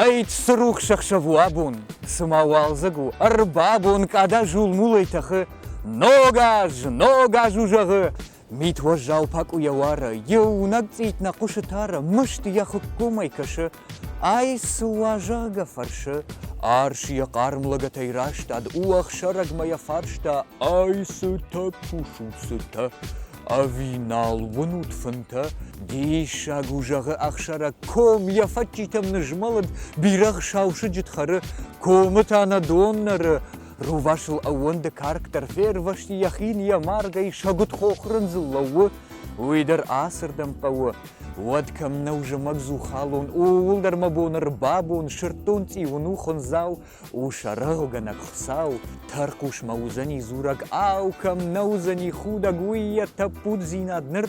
Ӕйтт, срухс ӕхсӕв у абон, цыма уалдзӕг у, ӕрбабон, къада зулмулӕй тӕхы, ног аз, ног аз у зӕгъы, Мит уӕззау пакъуыйӕ уары, Иунӕг цъит нӕ хъуысы тары, Мыст йӕ хуыккомӕй кӕсы, Ай цы уазӕгӕ фӕрсы? Арс йӕ хъарм лӕгӕтӕй растад, Уӕхсӕрӕгмӕ йӕ фарста, Ай цытӕ кусут, цытӕ? Ӕви нал уынут фынтӕ? Диссаг у, зӕгъы ӕхсӕрӕг, Ком йӕ фӕдджитӕм нызмӕлыд, Бирӕгъ сау сыджыт хӕры, Комы та нӕ дон нӕры. Рувасыл ӕууӕнды карк дӕр фервӕзти, йӕ хин йӕ маргӕй сӕгуыт хохрындзыл лӕууы, уый дӕр ацырдӕм хъӕуы. Уӕд кӕм нӕу зымӕг зухалон, ууыл дӕр мӕ бон ӕрбабон, сырддон цъиуын у хуындзау, у саргъгӕнӕг Хуыцау, тӕрхъусмӕ уыдзӕни дзурӕг, ау, кӕм нӕ уыдзӕни худӕг уый йӕ тӕппуддзинад ныр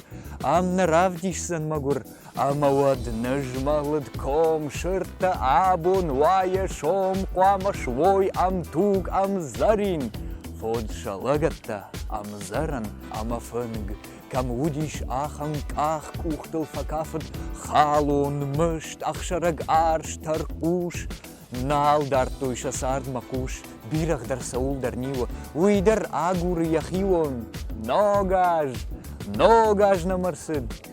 ам нӕ равдисдзӕн мӕгуыр, Ӕмӕ уӕд нызмӕлыд ком сырдтӕ абон уайы сом хъуамӕ суой ӕмтуг ӕмдзӕрин Хуыд сӕ лӕгӕттӕ ӕмдзӕрӕн ӕмӕ фынг Кӕм уыдис ахӕм къах къухтыл фӕкафыд халон мыст ӕхсӕрӕг арс тӕрхъус Нал дардтой сӕ цардмӕ хъус, бирӕгъ дӕр цӕуылдӕр ниуы, уый дӕр агуры йӕ хион Ногаз, ногаз нӕм ӕрцыд